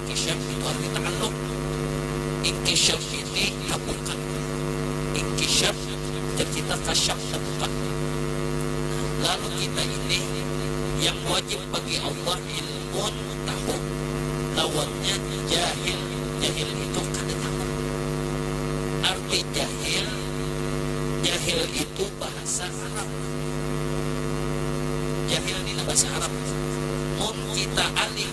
Inkishaf itu arti ta'alluq. Inkishaf ini kabukan. Inkishaf jar kita kasyaf tabuka. Lalu kita ini yang wajib bagi Allah ilmun tahu, lawannya jahil. Jahil itu kada tahu. Arti jahil, jahil itu bahasa Arab. Jahil ni nah bahasa Arab. Mun kita alih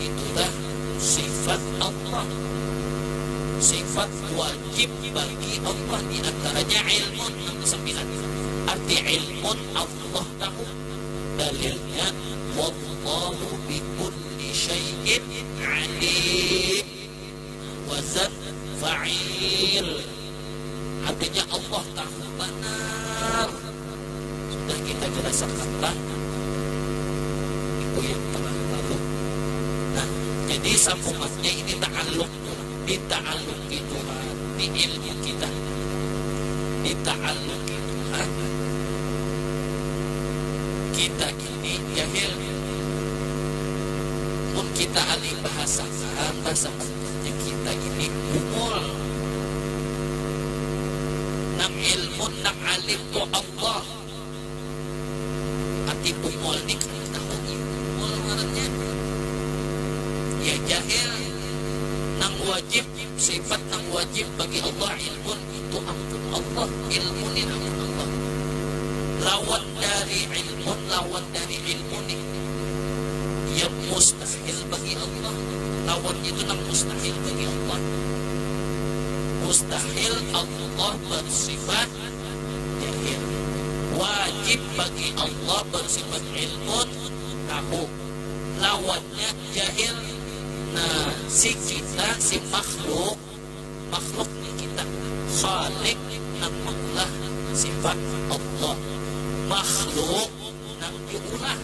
Itulah sifat Allah. Sifat wajib bagi Allah di antaranya ilmun nang kasambilan. Arti ilmun Allah tahu. Dalilnya wallahu bikulli syai'in alim. Wazan fa'il. Artinya Allah tahu banar. Sudah kita jelasakan lah. Itu yang telah lalu. Nah, jadi sambungannya ini ta'aluk. Dita'aluk itu di ilmu kita. Dita'aluk itu kita Ini jahil nih. Mun kita alih bahasa Arab lah sabujurnya kita ini bungul. Nang ilmun nang alim tu Allah. Arti bungul nih kada tahu nih bungul ngarannya. Ya jahil. Nang wajib, sifat nang wajib bagi Allah ilmun. Itu ampun Allah ilmu nih amun Allah lawan dari ilmun lawan dari ilmu nih yang mustahil bagi Allah lawan itu nang mustahil bagi Allah mustahil Allah bersifat jahil wajib bagi Allah bersifat ilmun tahu lawannya jahil nah si kita si makhluk makhluk ni kita. Khalik nang maulah sifat Allah. Makhluk nang diulah.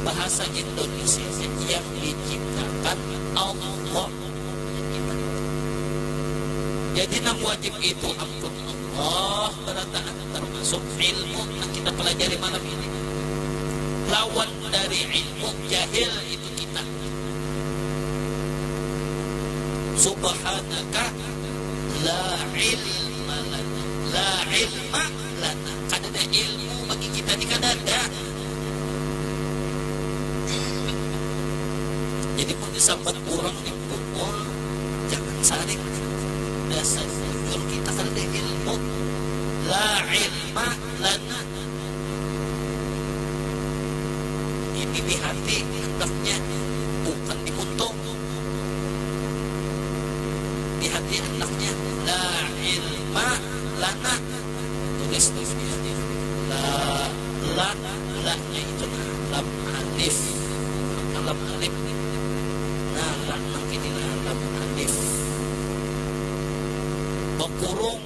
Bahasa Indonesia nya yang diciptakan Allah nang dibantu. Jadi nang wajib itu ampun Allah berataan termasuk ilmu nang kita pelajari malam ini. Lawan dari ilmu jahil itu kita. Subhanaka la ilma lana la ilma lana kadada ilmu bagi kita ni kadada jadi pun disambat orang ni bungul jangan sarik dasar bungul kita kadada ilmu la ilma lana Dipilih hati hendaknya bukan diuntung di hati hendaknya la ilma lana tulis dulu di hati la la la nya itu nah lam alif maka lam alif nah la nang kini nah lam alif bekurung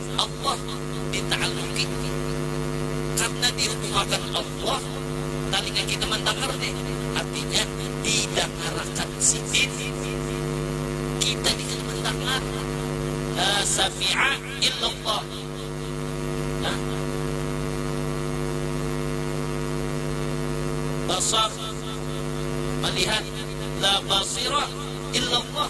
Allah dita'alluki. Karna dihukumakan Allah talinga kita mandangar ne, artinya didangarakan Sidin. Kita ni kada mandangar. La sami'a illallah. Nah. Basar, malihat. La basira illallah.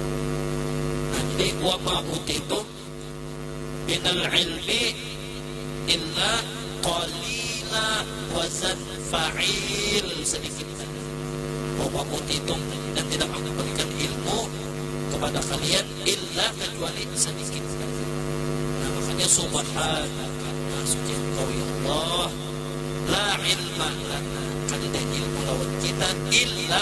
Nanti wa ma utitum minal ilmi illa qalila wazan fa'il sedikit saja. Wa ma utitum dan tidak aku berikan ilmu kepada kalian illa kecuali sedikit saja. Nah, makanya subhanaka nah, suci engkau ya Allah la ilma lana kada ada ilmu lawan kita illa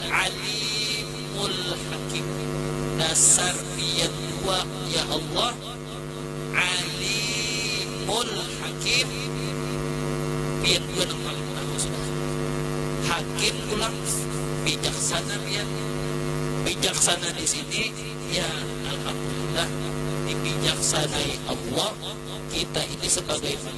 Alimul Hakim. Dasar pian jua, ya Allah, Alimul Hakim, pian jua nang paling tahu sudah. Hakim pulang, bijaksana pian. Bijaksana di sini, ya Alhamdulillah, dibijaksanai Allah kita ini sebagai manusia.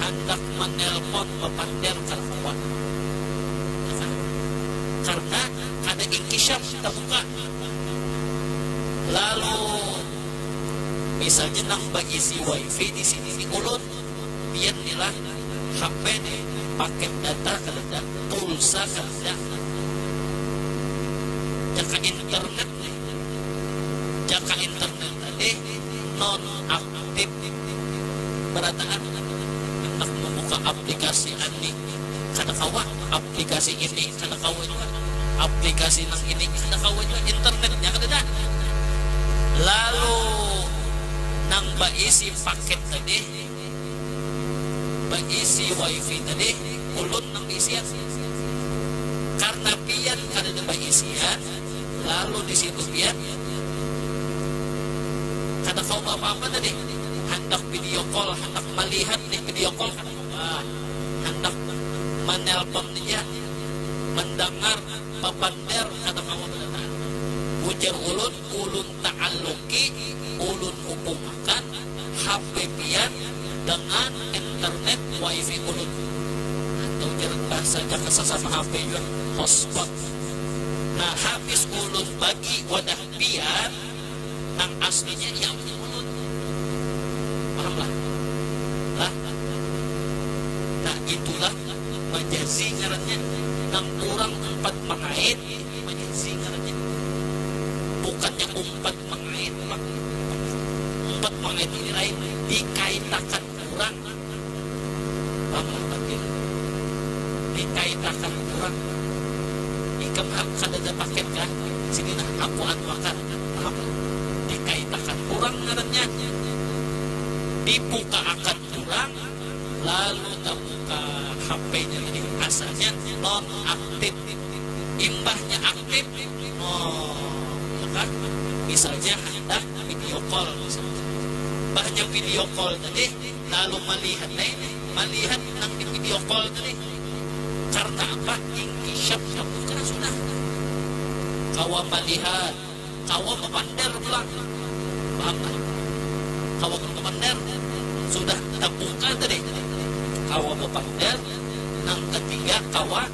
handak manelpon bapander kada kawa karna kada inkisyaf tabuka lalu misalnya nang baisi wifi disini ni ulun pian ni lah HP ni paket data kadada pulsa kadada jaka internet ni jaka internet tadi non aktif. Tip, Barataan handak mambuka aplikasi ani kada kawa, aplikasi ini kada kawa jua, aplikasi nang ini kada kawa jua, internetnya kadada. Lalu nang baisi paket tadi, baisi wifi tadi ulun nang baisian. Karna pian kadada baisian. Lalu di situ pian kada kawa beapa-apa tadi, handak video call, handak malihat nih video call kada kawa, handak manelpon ja, mandangar, bapander kada kawa banar. Ujar ulun, ulun. Taalluki ulun hubung akan HP pian dengan internet wifi ulun. Atau jar bah saja ke sasama HP jua, hotspot. Nah habis ulun bagi wadah pian, nang aslinya inya punya ulun. Paham lah? Lah? Nah itulah majazi ngarannya. Nang urang umpat mangait Banyak singarnya. Bukannya umpat mangait umpat mangait. Umpat mangait ini lain dikaitakan urang pang lah batir. Dikaitakan urang. Ikam ha kadada paket kah? Sini nah aku anuakan. Paham lah. Dikaitakan urang ngarannya. Dibukaakan urang lalu tabuka HP-nya ini. Asalnya nonaktif. imbahnya aktif oh ya kan misalnya hendak video call misalnya imbahnya video call tadi lalu melihat nah ini melihat nang di video call tadi karena apa ingkisyaf kamu kena sudah kawa melihat kawa memander pulang paham kan kawa memander sudah terbuka tadi kawa memander nang ketiga kawa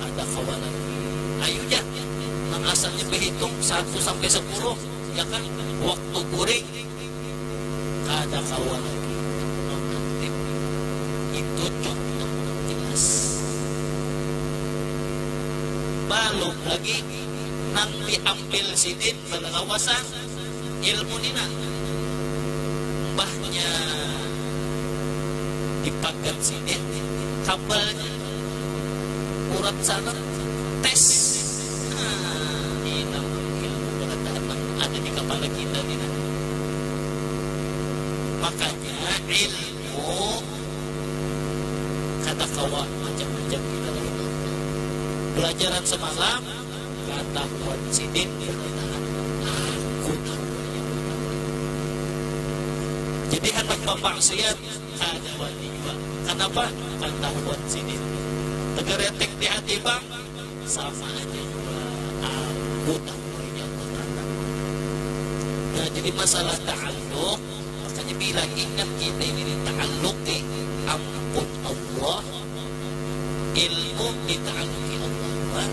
Kada kawa lagi. Ayu ja, nang asalnya bahitung satu sampai sapuluh, ya kan, waktu guring. Kada kawa lagi. Mangantip. Itu contoh nang jelas. Balum lagi nang diambil sidin balawasan. ilmu ni nah mbahnya dipagat sidin kabalnya urat sana tes nah ni nah ilmu barataan nang ada di kapala kita ni nah makanya ilmu kada kawa macam-macam kita lain balajaran samalam. Batakon sidin jar ditahan, aku nang manyambutan batakon. Jadi handak bamaksiat kada wani jua, kanapa? Katahuan sidin. Tegeretik di hati pang, sama haja jua aku nang manyambutan batakon. Nah jadi masalah ta'alluq, makanya bila ingat kita ini dita'alluqi ampun Allah, ilmu ditaaluki Allah wan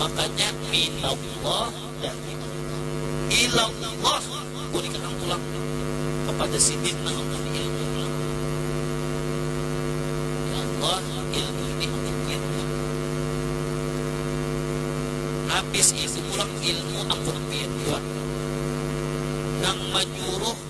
makanya minallah dari Allah ilallah buli ka nang pulang kapada sidin nang ampun ilmu pulang ya Allah ilmu ini ampun kian kian habis itu pulang ilmu ampun kian kian nang manyuruh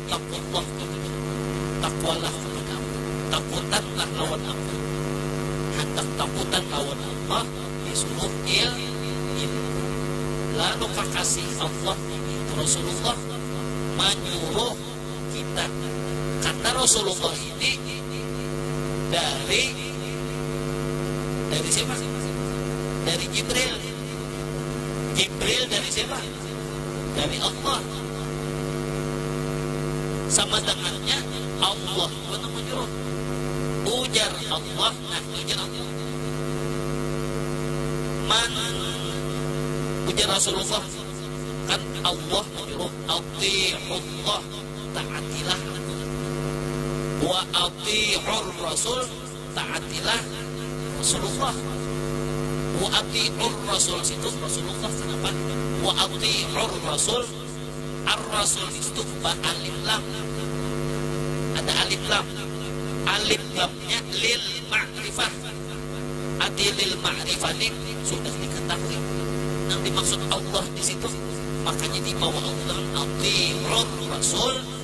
Takuallah bagi ikam, takwalah bagi kami, takutanlah lawan Aku, handak takutan lawan Allah disuruh il ilmu, lalu kakasih Allah ini Rasulullah manyuruh kita, kata Rasulullah ini dari dari siapa? Dari Jibril, Jibril dari siapa? dari Allah. Sama dangannya Allah jua nang manyuruh. Ujar Allah ngani jar aku. Man ujar Rasulullah kan Allah manyuruh athi'ullah taatilah aku wa athi'ur rasul Taatilah Rasulullah. Wa ati'ur rasul situ Rasulullah sanapat. Wa ati'ur rasul ar-rasul di situ ba alif lam. Ada alif lam. Alif lamnya lil ma'rifah. Ati lil ma'rifah ni sudah diketahui. Nang dimaksud Allah di situ. Makanya dibawa Allah ati'ur rasul.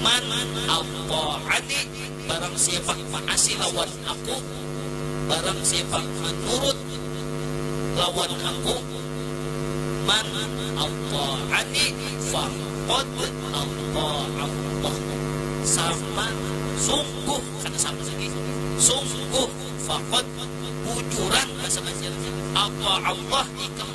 Man apo'ani barang siapa ma'asi lawan aku barang siapa manurut lawan aku man apo'ani faqad apo'allah sama sungguh kada sama lagi sungguh faqad bujuran bahasa banjar apo'allah ikam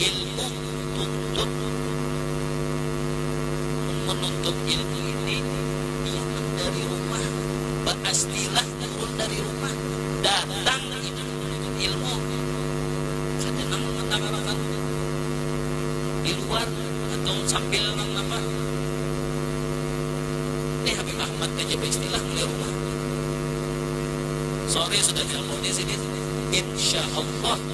ilmu tuntut menuntut ilmu ini jangan dari rumah baastilah turun dari rumah datang itu menuntut ilmu kada nang mengutarakan di luar atau sambil nang apa nih Habib Ahmad aja baistilah mulai rumah sore sudah ilmu di sini insya Allah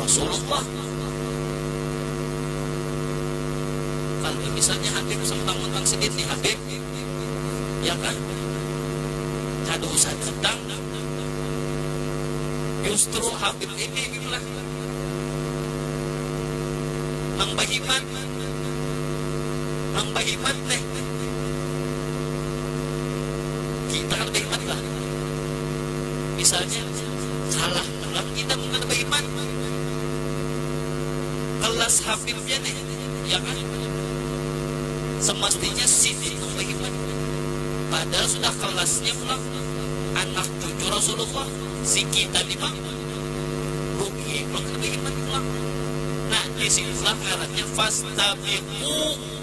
Rasulullah. Kan tulisannya Habib sempang utang sedit nih Habib. Ya kan? Kada usah datang. Justru Habib ini bilang Nang bahimat Nang bahimat nih Kita kan bahimat lah Misalnya kalah Tulak kita mun kada baiman. Kelas habibnya nih, ya kah? Semastinya sidin nang baiman. Padahal sudah kelasnya pulang anak cucu Rasulullah, si kita nih pang. Rugi pulang kada baiman pulang. Nah, di situlah ngarannya fastabiquu.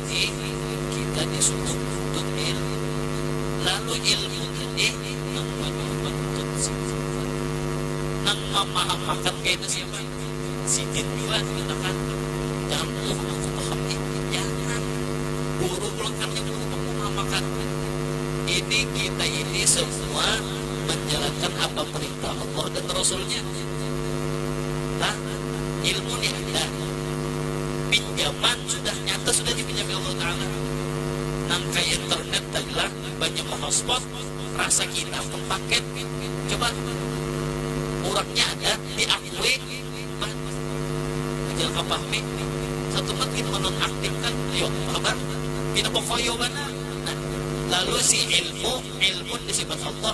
Jadi, kita disuruh nuntut ilmu. Lalu ilmu tadi nang manyuruh manuntut sidin jua. Nang mamahamakan kaytu siapa? Sidin jua nang katakan, Dambuh aku paham nih. Jangan. Guru ulun nang nyuruh nang mamahamakan. Ini kita ini semua manjalankan apa perintah Allah dan Rasulnya. Nah, ilmu nih ada. Nyaman sudah, nyata sudah dipinjami Allah Taala. Nang kaya internet tadi lah, banyak menghotspot, rasa kita mempaket. Coba, urangnya ada diakui bah, ajal ka pahmi satu mat gin menonaktifkan, ayo habar, pina bekoyo banar. Nah, lalu si ilmu, ilmun disipat Allah.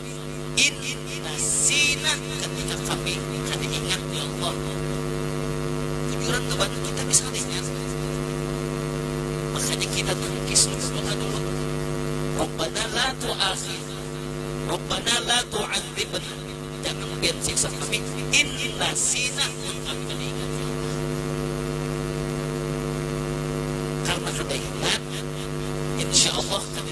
In nasina ketika kami kada ingat ya Allah bujuran tu bantu kita bisa kada ingat makanya kita tu kisru berdoa dulu Rabbana la tu'akhidna Rabbana la tu'adzibna jangan pian siksa kami in nasina mun kami kada ingat ya Allah karna kada ingat insya Allah kada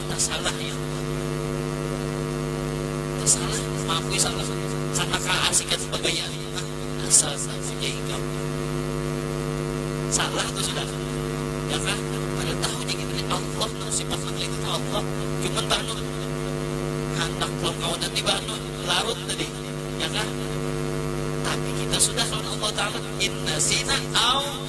Tasalah ya Allah. Tasalah, maafui salah. Karena kaasi kaya tu bagayaan. Asal tahunya ikam. Salah tu sudah. Ya kah? Kada tahu nya kita ni Allah tu sifat nang kaya gitu Allah. Cuman banun. Handak pulang kawanan ni banun. Larut tadi. Ya kah? Tapi kita sudah lawan Allah Ta'ala. Inna sina au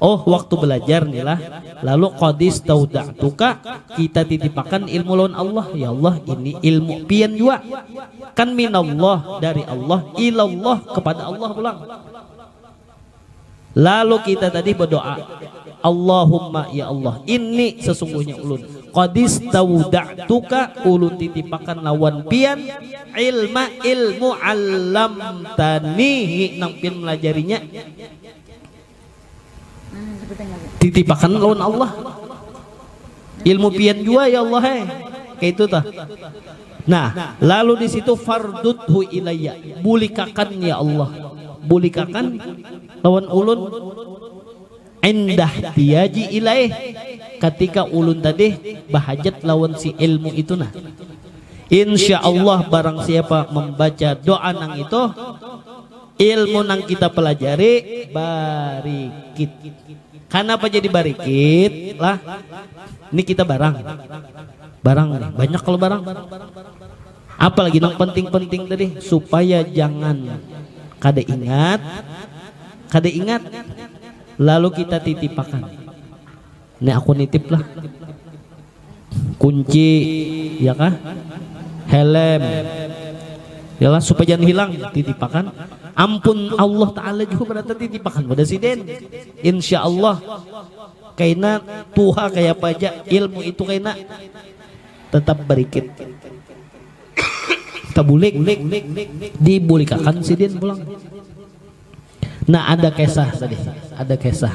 Oh waktu belajar ni lah, lalu qad istauda'tuka, kita titipakan ilmu lawan Allah, ya Allah ini ilmu Pian jua, kan minallah dari Allah ilallah kepada Allah pulang, lalu kita tadi bedoa, Allahumma ya Allah inni sesungguhnya ulun qad istauda'tuka ulun titipakan lawan Pian ilma ilmu 'allamtanihi nang Pian melajarinya. Titipakan lawan Allah. Ilmu pian jua ya Allah eh. Kayak itu tah. Nah, lalu di situ farduthu ilayya. Bulikakan ya Allah. Bulikakan lawan ulun indah tiyaji ilaih ketika ulun tadi bahajat lawan si ilmu itu nah Insya Allah barang siapa membaca doa nang itu Ilmu nang kita pelajari barikit. Kanapa jadi barikit lah? Ini kita barang, barang nih banyak kalo barang. Apa lagi nang penting-penting tadi supaya jangan kada ingat, kada ingat lalu kita titipakan. Nih aku nitip lah. Kunci, ya kah? Helm. Yalah supaya jangan hilang titipakan. Ampun Allah Ta'ala juga berarti titipakan pada si Den. Insya Allah kaina tuha kayak apa aja ilmu itu kaina tetap berikit kebulik dibulikakan sidin pulang nah ada kisah tadi ada kisah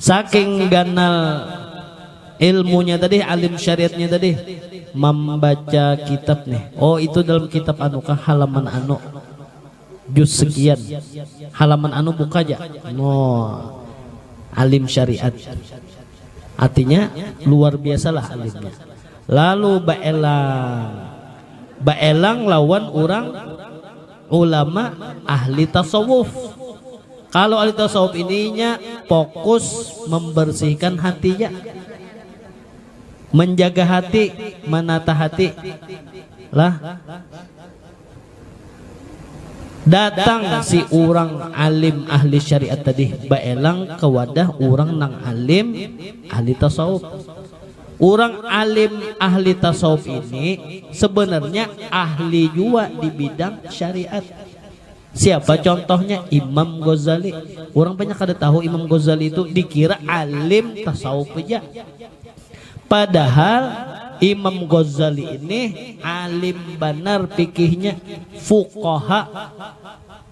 Saking ganal ilmunya tadi, alim syariatnya tadi, mambaca kitab nih, oh itu dalam kitab anu kah halaman anu, juz sekian, halaman anu buka ja, nah alim syariat, artinya luar biasa lah alimnya. Lalu baelang, baelang lawan urang. ulama ahli tasawuf. Kalu ahli tasawuf ini inya fokus membersihkan hatinya, menjaga hati, menata hati lah. Datang si urang alim ahli syariat tadi baelang ke wadah urang nang alim ahli tasawuf. Urang alim ahli tasawuf ini sebenarnya ahli jua di bidang syariat. Siapa contohnya Imam Ghazali. Urang banyak kada tahu Imam Ghazali tu dikira alim tasawuf haja. Padahal Imam Ghazali ini alim banar fikihnya, fuqaha.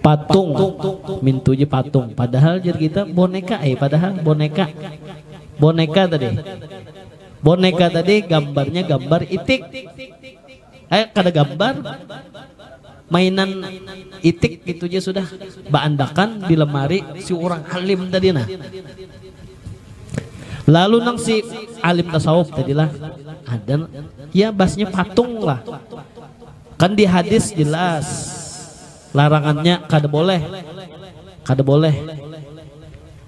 Patung, mintunya patung. Padahal jar kita boneka eh padahal boneka. Boneka tadi. Boneka tadi gambarnya gambar itik. Eh kada gambar. Mainan itik itu aja sudah baandakan di lemari si orang alim tadi nah. Lalu nang si alim tasawuf tadi lah ada ya basnya patung lah. Kan di hadits jelas larangannya kada boleh, kada boleh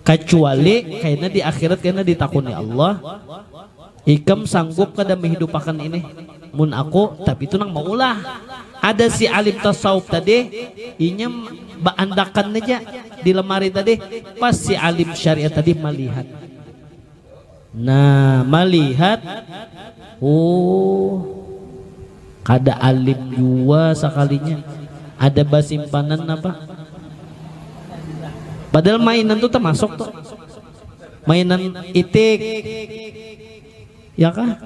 kacuali kaina di akhirat kaina ditakuni Allah ikam sanggup kada mehidupakan ini mun aku tapi itu nang maulah ada si alim tasawuf tadi inya baandakan aja di lemari tadi pas si alim syariat tadi malihat. Nah, malihat, oh, kada alim jua sakalinya, ada basimpanan apa, padahal mainan tu tamasuk tu, mainan itik, ya kah,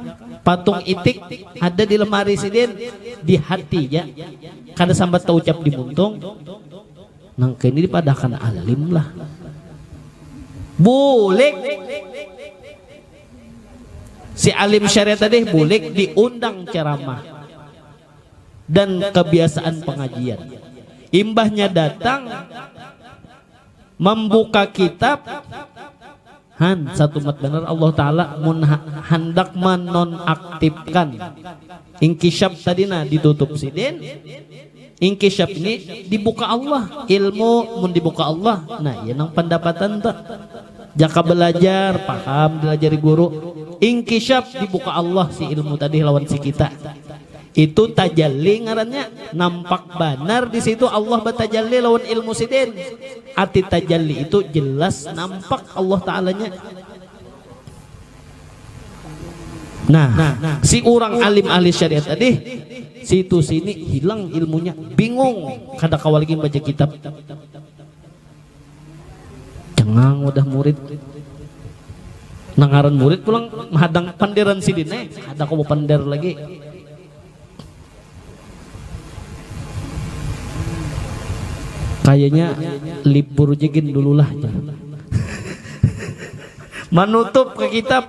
patung itik ada di lemari sidin, di hati ja, kada sambat taucap di muntung. Nang kaya ini dipadahkan alim lah. Bulik. Si alim syariat tadi bulik diundang ceramah dan kebiasaan pengajian. Imbahnya datang membuka kitab Han, satumat banar Allah Ta'ala mun handak manonaktifkan Inkishaf tadi nah ditutup Sidin, Inkishaf ini dibuka Allah, ilmu mun dibuka Allah nah iya nang pandapatan tu. Jaka balajar, paham dilajari guru, Inkishaf dibuka Allah si ilmu tadi lawan si kita. Itu tajalli ngarannya, nampak banar di situ Allah batajalli lawan ilmu Sidin. Arti tajalli itu jelas nampak Allah Ta'alanya. Nah, si urang alim ahli syariat tadi situ sini hilang ilmunya, bingung, kada kawa lagi membaca kitab. Jangang wadah murid. Nangaran murid pulang mahadang panderan sidin eh. Ada kau pander lagi. Kayaknya libur jegin dululah. Manutup ke kitab.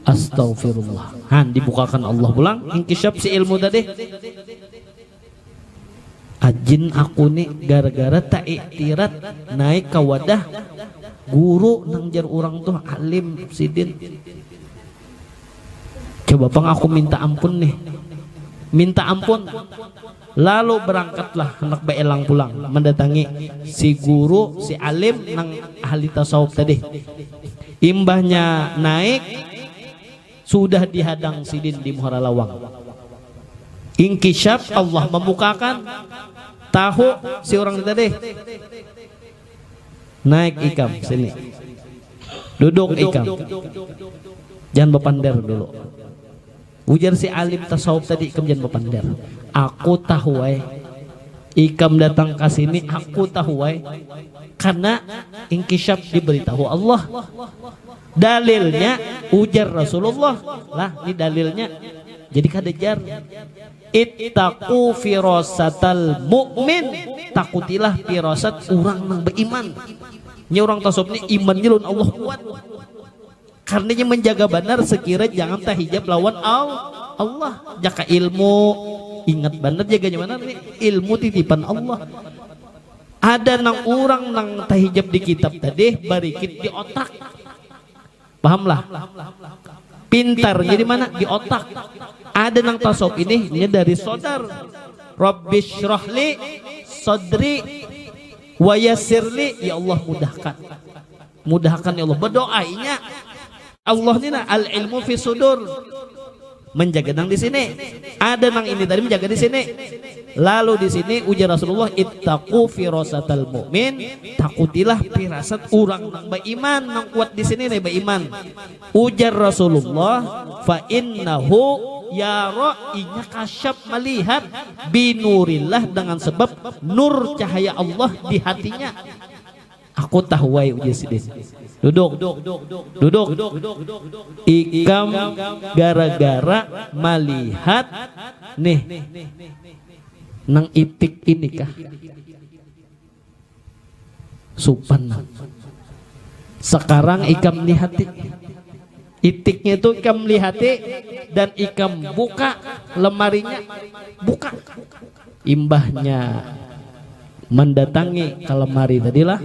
Astaghfirullah. Han dibukakan Allah pulang ingkisyaf si ilmu tadi. Ajin aku ni gara-gara taiktirat naik ka wadah guru nang jar urang tuh alim sidin. Coba pang aku minta ampun nih. Minta ampun. Lalu barangkatlah handak baelang pulang mandatangi si guru, si alim nang ahli tasawuf tadi. Imbahnya naik, sudah dihadang sidin di muhara lawang. Inkisyaf, Allah mamukaakan, tahu si urang ni tadi. Naik ikam sini. Duduk ikam. Jangan bapander dulu. Ujar si alim tasawuf tadi ikam jangan bapander. Aku tahu ai. Ikam datang ka sini aku tahu ai. Karena ingkisyaf diberitahu Allah. Dalilnya ujar Rasulullah. Lah ni dalilnya. Jadi kada jar. Ittaqu firasatal mu'min. Takutilah firasat urang nang baiman. Nya urang tasawuf ni imannya lawan Allah kuat. Karna inya manjaga banar sekira jangan tahijab lawan Allah. Jaka ilmu, ingat banar jaganya banar ni, ilmu titipan Allah. Ada nang urang nang tahijab di kitab tadi barikit di otak. Paham lah? Pintarnya di mana? Di otak. Ada nang tasawuf ini inya dari sodar. Rabbisyrahli sodri wayasirli, ya Allah mudahkan. Mudahakan ya Allah, badoa inya. Allah ni nah al ilmu fi sudur menjaga nang di sini ada nang ini tadi menjaga di sini lalu di sini ujar Rasulullah ittaqu firasatal mu'min takutilah firasat orang nang beriman nang kuat di sini nih beriman ujar Rasulullah fa innahu yara inya kasyaf melihat binurillah dengan sebab nur cahaya Allah di hatinya Aku tahu ai ujar sidin. Duduk. Duduk. Ikam gara-gara malihat nih nang itik ini kah? Supan nang. Sakarang ikam lihati. Itiknya itu ikam lihati dan ikam buka lemarinya, buka. Imbahnya mandatangi ka lemari tadi lah,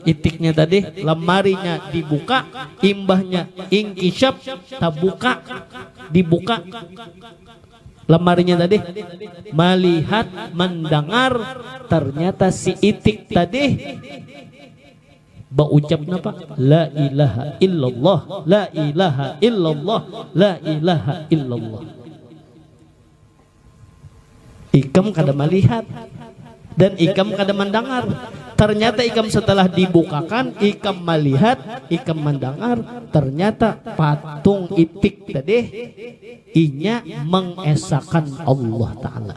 itiknya tadi, lemarinya dibuka, imbahnya ingkisyap, tabuka, dibuka lemarinya tadi, malihat, mandangar, ternyata si itik tadi. Baucap napa? Lailaha illallah, lailaha illallah, lailaha illallah. Ikam kada malihat dan ikam kada mandangar. Ternyata ikam setelah dibukakan, ikam malihat, ikam mandangar, ternyata patung itik tadi inya mengesakan Allah Ta'ala.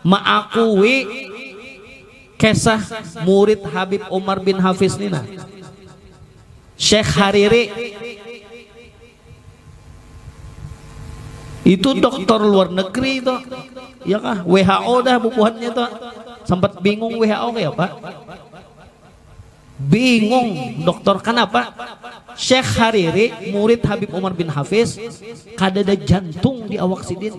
Maakui kesah murid Habib Umar bin Hafiz ni nah, Syekh Hariri. Itu doktor luar negeri itu, ya kah? WHO dah bubuhannya itu. Sempat bingung WHO kayapa. Bingung doktor, kanapa? Syekh Hariri, murid Habib Umar bin Hafiz, kadada jantung di awak sidin.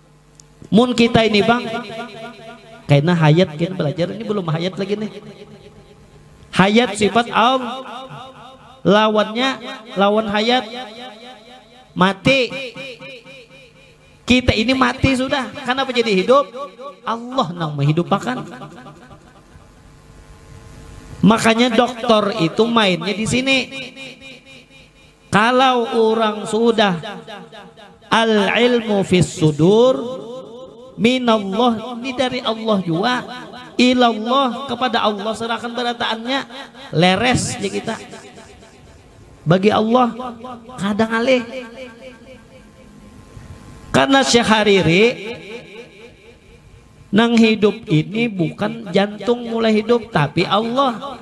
Mun kita ini bang, kena hayat kena belajar ini belum hayat lagi nih. Hayat sifat al lawannya lawan hayat mati. Kita ini mati sudah. Kenapa jadi hidup? Allah nang menghidupakan. Makanya dokter itu mainnya di sini. Kalau urang sudah Al-ilmu fis sudur minallah ni dari Allah jua ilallah kepada Allah serahkan berataannya leres ja kita bagi Allah kada ngalih karna Syekh Hariri nang hidup ini bukan jantung mulai hidup tapi Allah.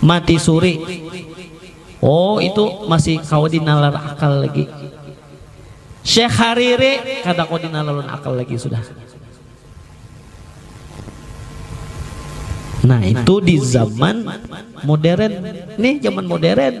Mati suri. Oh itu masih kawa di nalar akal lagi. Syekh Hariri kada kawa di nalar ulun akal lagi sudah. Nah itu di zaman modern. Nih zaman modern.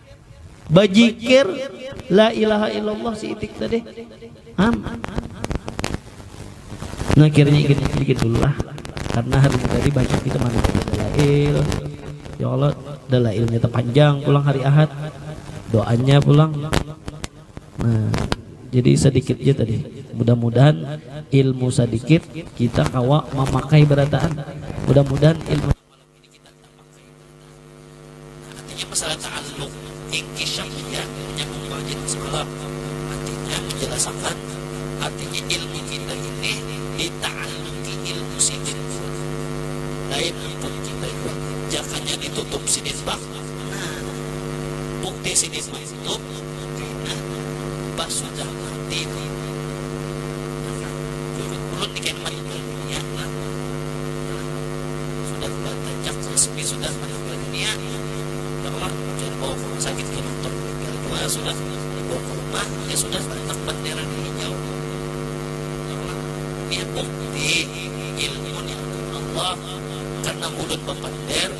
Bajikir la ilaha illallah si itik tadi. Am. Nah kiranya ikit dikit dulu lah. Karena hari ini tadi banyak kita manit dalail. Ya Allah, dalailnya terpanjang pulang hari Ahad. Doanya pulang. Nah, jadi sedikit aja tadi. Mudah-mudahan ilmu sedikit kita kawa memakai berataan. Mudah-mudahan ilmu Ini kita tapakai tentang artinya masalah ta'alluq inkishaf iya nya mumbagitu semalam artinya menjelasakan artinya ilmu kita ini dita'alluqi ilmu sidin jua lain ampun kita jua jakanya ditutup sidin pang nah bukti sidin mah Tup, nah pas sudah mati tu nah curut pulut ni kena maimbal dunia lah nah sudah batajak resmi sudah maninggal dunia kawa jar bawa ka rumah sakit kena tu meninggal jua sudah dibawa ka rumah inya sudah bantak bandera di hijau kawa nih bukti ilmu nikmat Allah karna mulut bapander.